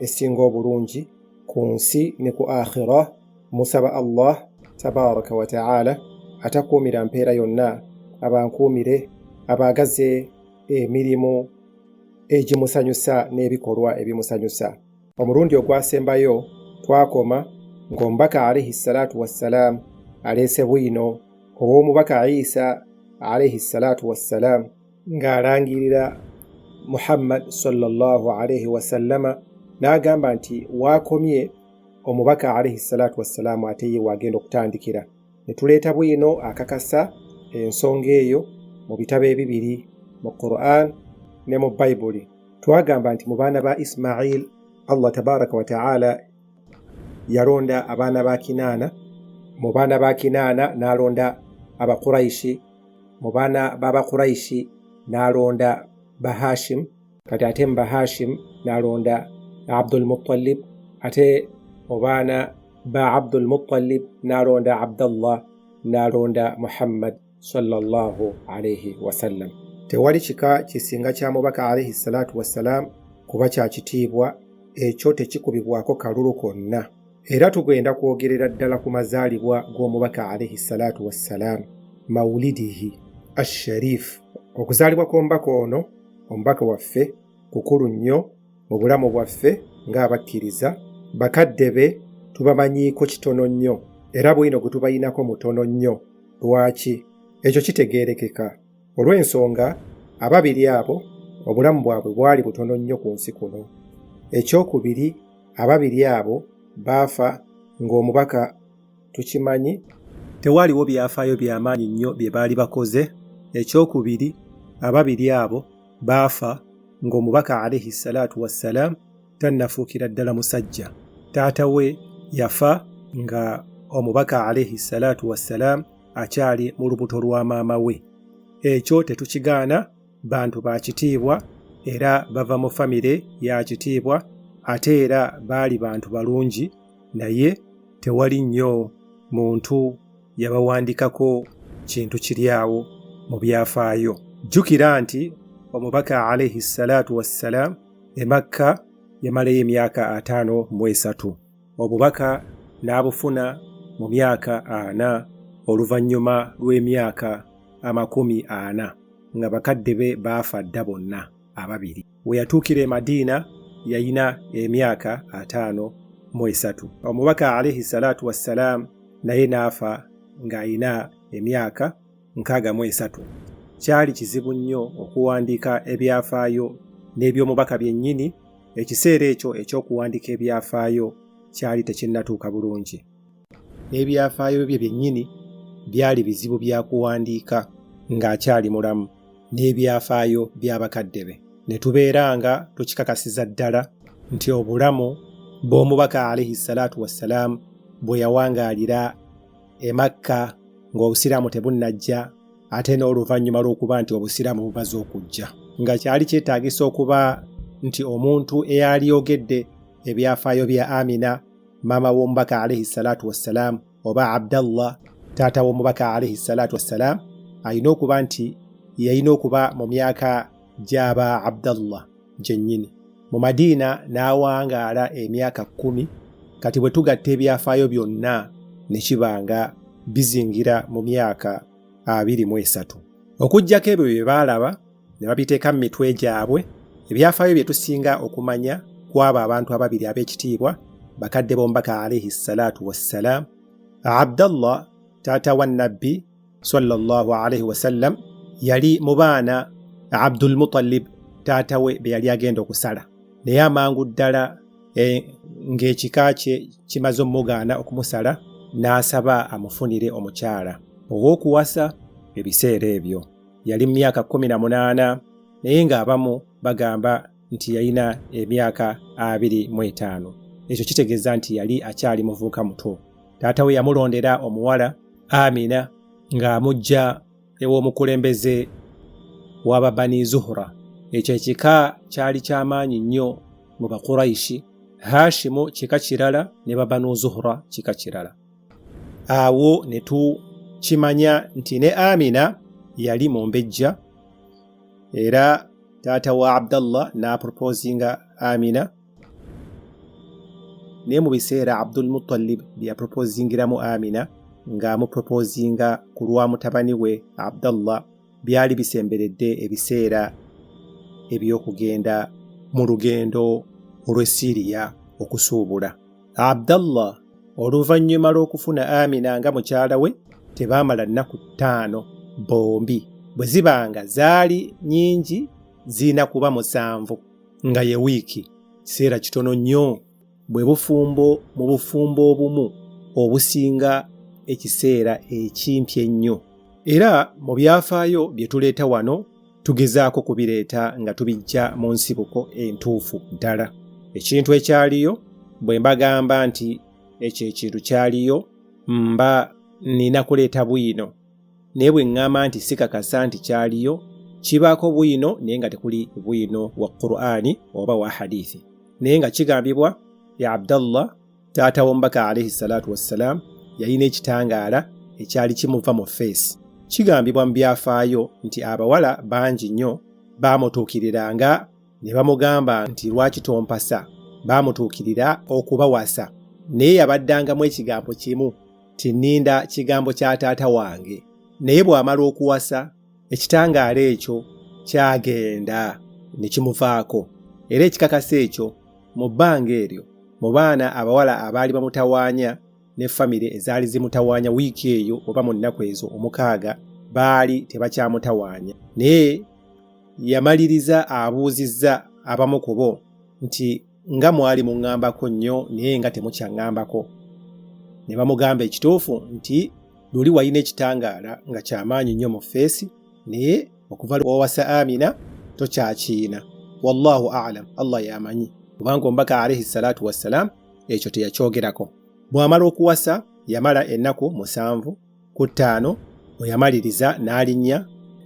esinga obulungi ku nsi ne ku akhira musaba allah tabaraka wataala atakuumira mpeera yonna abankuumire abaagaze emirimu egimusanyusa n'ebikolwa ebimusanyusa omulundi ogwasembayo twakoma ng'omubaka alaihi salatu wassalaamu aleese bwino ow'omubaka isa alaihi salatu wassalaamu ng'alangirira muhammad salllah alaihi wasallama n'agamba nti waakomye omubaka alaihi salatu wassalaamu ate ye waagenda okutandikira ne tuleeta bwino akakasa ensonga eyo mu bitabo ebibiri mu quran ne mu bayibuli twagamba nti mu baana ba ismail allah tabaraka wataala yalonda abaana ba kinaana mu baana ba kinaana n'alonda abakuraishi mu baana b'abakuraishi n'alonda bahashim kati ate mu bahashim n'alonda abdul muttalib ate mu baana ba abdul muttalib n'alonda abdallah n'alonda muhammad sallallahu alaihi wasallam tewali kika kisinga kya mubaka alaihi salatu wassalam kuba kya kitiibwa ekyo tekikubibwako kalulu konna era tugenda kwogerera ddala ku mazaalibwa g'omubaka alaihi salatu wassalam maulidihi asharifu okuzaalibwa kw'omubaka ono omubaka waffe kukulu nnyo mu bulamu bwaffe ng'abakkiriza bakadde be tubamanyiiko kitono nnyo era bwino gwe tubayinako mutono nnyo lwaki ekyo kitegeerekeka olw'ensonga ababiri abo obulamu bwabwe bwali butono nnyo ku nsi kuno ekyokubiri ababiri abo baafa ng'omubaka tukimanyi tewaaliwo byafaayo byamaanyi nnyo bye baali bakoze ekyokubiri ababiri abo baafa ng'omubaka alaihi salaatu wassalaamu tannafuukira ddala musajja taata we yafa nga omubaka alaihi salaatu wassalaamu akyali mu lubuto lwa maama we ekyo tetukigaana bantu ba kitiibwa era bava mu famire ya kitiibwa ate era baali bantu balungi naye tewali nnyo muntu yabawandikako kintu kiri awo mu byafaayo jjukira nti omubaka alaihi salaatu wassalaamu emakka yamalayo emyaka ataano mu esatu obubaka n'abufuna mu myaka ana oluvannyuma lw'emyaka amakumi ana nga bakadde be baafa dda bonna ababiri we yatuukira e madiina yalina emyaka ataano mu esatu omubaka alaihi salaatu wassalaamu naye n'afa ng'alina emyaka nkaaga mu esatu kyali kizibu nnyo okuwandiika ebyafaayo n'eby'omubaka byennyini ekiseera ekyo eky'okuwandiika ebyafaayo kyali tekinnatuuka bulungi n'ebyafaayo bye byennyini byali bizibu bya kuwandiika ng'akyali mulamu n'ebyafaayo bya bakadde be ne tubeera nga tukikakasiza ddala nti obulamu bw'omubaka alaihi salaatu wassalaamu bwe yawangaalira emakka ng'obusiraamu tebunnajja ate n'oluvannyuma lw'okuba nti obusiraamu bumaze okujja nga kyali kyetaagisa okuba nti omuntu eyaliyogedde ebyafaayo bya amina maama w'omubaka alaihi salatu wassalaamu oba abdallah taata w'omubaka alaihi salatu wassalaamu alina okuba nti yalina okuba mu myaka gy'aba abdallah gyennyini mu madiina n'awangaala emyaka kkumi kati bwe tugatta ebyafaayo byonna ne kiba nga bizingira mu myaka abiri mu esatu okuggyako ebyo bye baalaba ne babiteeka mu mitwe gyabwe ebyafaayo bye tusinga okumanya kw'abo abantu ababiri ab'ekitiibwa bakadde b'omubaka alaihi salaatu wassalaamu abdallah taata wa nabbi sallallahu alaihi wasallam yali mu baana abdul mutalib taata we be yali agenda okusala naye amangu ddala e, ng'ekika kye kimaze omugaana okumusala n'asaba amufunire omukyala ow'okuwasa ebiseera ebyo yali mu myaka kkumi na munaana naye ng'abamu bagamba nti yalina emyaka abiri mu etaano ekyo kitegeeza nti yali akyali muvuuka muto taata we yamulondera omuwala amina ng'amujja ew'omukulembeze w'ababani zuhura ekyo ekika kyali ky'amaanyi nnyo mu bakurayishi hashimu kika kirala ne babanu zuhura kika kirala awo ne tukimanya nti ne amina yali mumbejja era taata wa abdallah n'aproposinga amina naye mu biseera abdul mutalib byeyaproposingiramu amina ng'amuproposinga ku lwa mutabani we abdallah byali bisemberedde ebiseera eby'okugenda mu lugendo olw'e siriya okusuubula abdallah oluvannyuma lw'okufuna amina nga mukyala we tebaamala nnaku ttaano bombi bwe ziba nga zaali nyingi zirina kuba musanvu nga ye wiiki kiseera kitono nnyo bwe bufumbo mu bufumbo obumu obusinga ekiseera ekimpi ennyo era mu byafaayo bye tuleeta wano tugezaako kubireeta nga tubijja mu nsibuko entuufu ddala ekintu ekyaliyo bwe mbagamba nti ekyo ekintu kyaliyo mba nina kuleeta bwino naye bwe ŋŋamba nti sikakasa nti kyaliyo kibaako bwino naye nga tekuli bwino wa qur'ani oba wa hadithi naye nga kigambibwa ya abdallah taata w'omubaka alaihi salaatu wassalaamu yalina ekitangaala ekyali kimuva mu feesi kigambibwa mu byafaayo nti abawala bangi nnyo baamutuukiriranga ne bamugamba nti lwaki tompasa baamutuukirira okubawasa naye yabaddangamu ekigambo kimu tininda kigambo kya taata wange naye bw'amala okuwasa ekitangaala ekyo kyagenda ne kimuvaako era ekikakasa ekyo mu bbanga eryo mu baana abawala abaali bamutawaanya ne famire ezaali zimutawaanya wiiki eyo oba mu nnaku ezo omukaaga baali tebakyamutawaanya naye yamaliriza abuuzizza abamu kubo nti nga mwali muŋŋambako nnyo naye nga temukyaŋŋambako ne bamugamba ekituufu nti luli walina ekitangaala nga kyamaanyi nnyo mu feesi naye okuva lwowasa amina tokyakiina wallahu alam allah yamanyi kubanga omubaka alaihi salatu wassalam ekyo teyakyogerako bw'amala okuwasa yamala ennaku musanvu ku ttaano bwe yamaliriza n'alinnya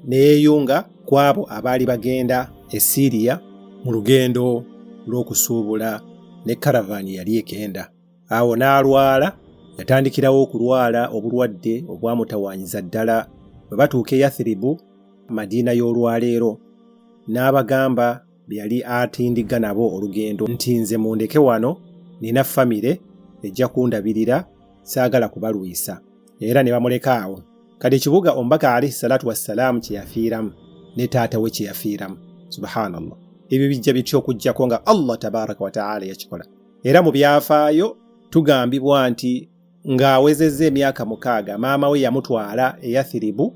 ne yeeyunga ku abo abaali bagenda e Siiriya mu lugendo lw'okusuubula ne karavaani yali egenda. Awo n'alwala, yatandikirawo okulwala obulwadde obwamutawaanyiza ddala. Bwe batuuka e Yathiribu, Madiina y'olwaleero, n'abagamba be yali atindigga nabo olugendo nti nze mundeke wano nina famire ejja kundabirira saagala kubalwisa era ne bamuleka awo kati ekibuga omubaka alaihi salatu wassalaamu kye yafiiramu ne taata we kye yafiiramu subhanallah ebyo bijja bitya okuggyako nga allah tabaraka wataala yakikola era mu byafaayo tugambibwa nti Ng'awezezza emyaka mukaaga maama we yamutwala e Yathiribu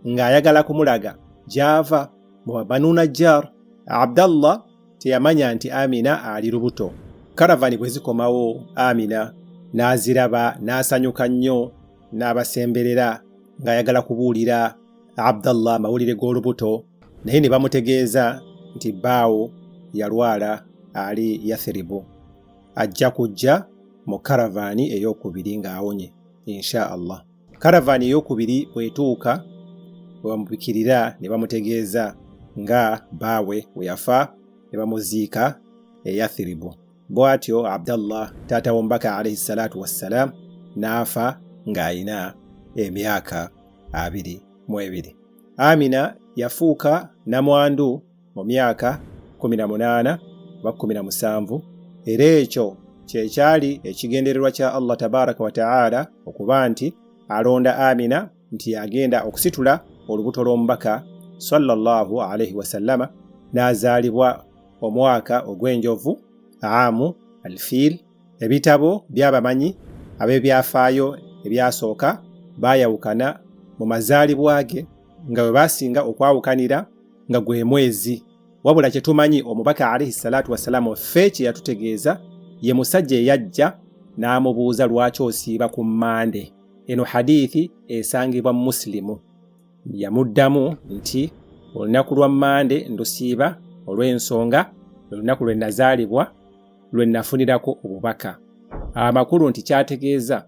ng'ayagala kumulaga gy'ava mu Banu Najjar. Abdallah teyamanya nti Amina ali lubuto. Karavani bwe zikomawo Amina n'aziraba n'asanyuka nnyo n'abasemberera ng'ayagala kubuulira Abdallah amawulire g'olubuto naye ne bamutegeeza nti bbaawo yalwala ali Yathiribu. ajja kujja mu karavaani ey'okubiri ng'awonye insha allah karavaani ey'okubiri bwetuuka webamubikirira ne bamutegeeza nga baawe we yafa ne bamuziika eyathiribu bw'atyo abdallah taata w'omubaka alaihi salaatu wassalaam n'afa ng'alina emyaka abiri mu ebiri amina yafuuka namwandu mu myaka 18 oba 17 era ekyo kyekyali ekigendererwa kya allah tabaraka wataala okuba nti alonda amina nti yagenda okusitula olubuto lw'omubaka sallallahu alaihi wasallama n'azaalibwa omwaka ogw'enjovu amu alfiil ebitabo by'abamanyi ab'ebyafaayo ebyasooka baayawukana mu mazaalibwa ge nga bwe baasinga okwawukanira nga gwe mwezi wabula kye tumanyi omubaka alaihi salaatu wassalaamu ffe kye yatutegeeza ye musajja eyajja n'amubuuza lwaki osiiba ku mmande eno hadiithi esangibwa musilimu yamuddamu nti olunaku lwa mmande ndusiiba olw'ensonga olunaku lwe nazaalibwa lwe nafunirako obubaka amakulu nti kyategeeza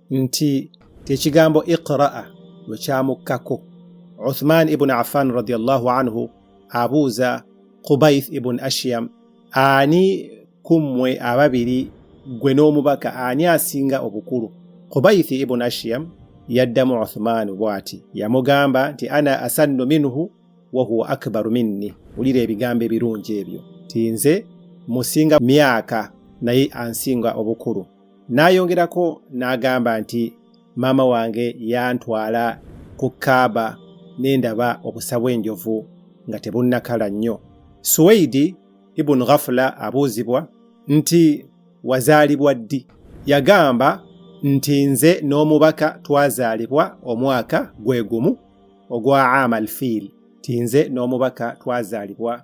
nti ekigambo iqraa lwe kyamukkako uthman ibuni affan radiallahu anhu abuuza kubaith ibuni ashiyam ani ku mmwe ababiri gwe n'omubaka ani asinga obukulu kubaith ibuni ashiyam yaddamu uthman bw'ati yamugamba nti ana asannu minhu wahuwa akbaru minni wulira ebigambo ebirungi ebyo ti nze musinga myaka naye ansinga obukulu N'ayongerako n'agamba nti, Maama wange yantwala ku Kaaba ne ndaba obusa bw'enjovu nga tebunnakala nnyo. Suweidi ibun Ghafula abuuzibwa nti wazaalibwa ddi? Yagamba nti nze n'omubaka twazaalibwa omwaka gwe gumu ogwa Amal Fiil, nti nze n'omubaka twazaalibwa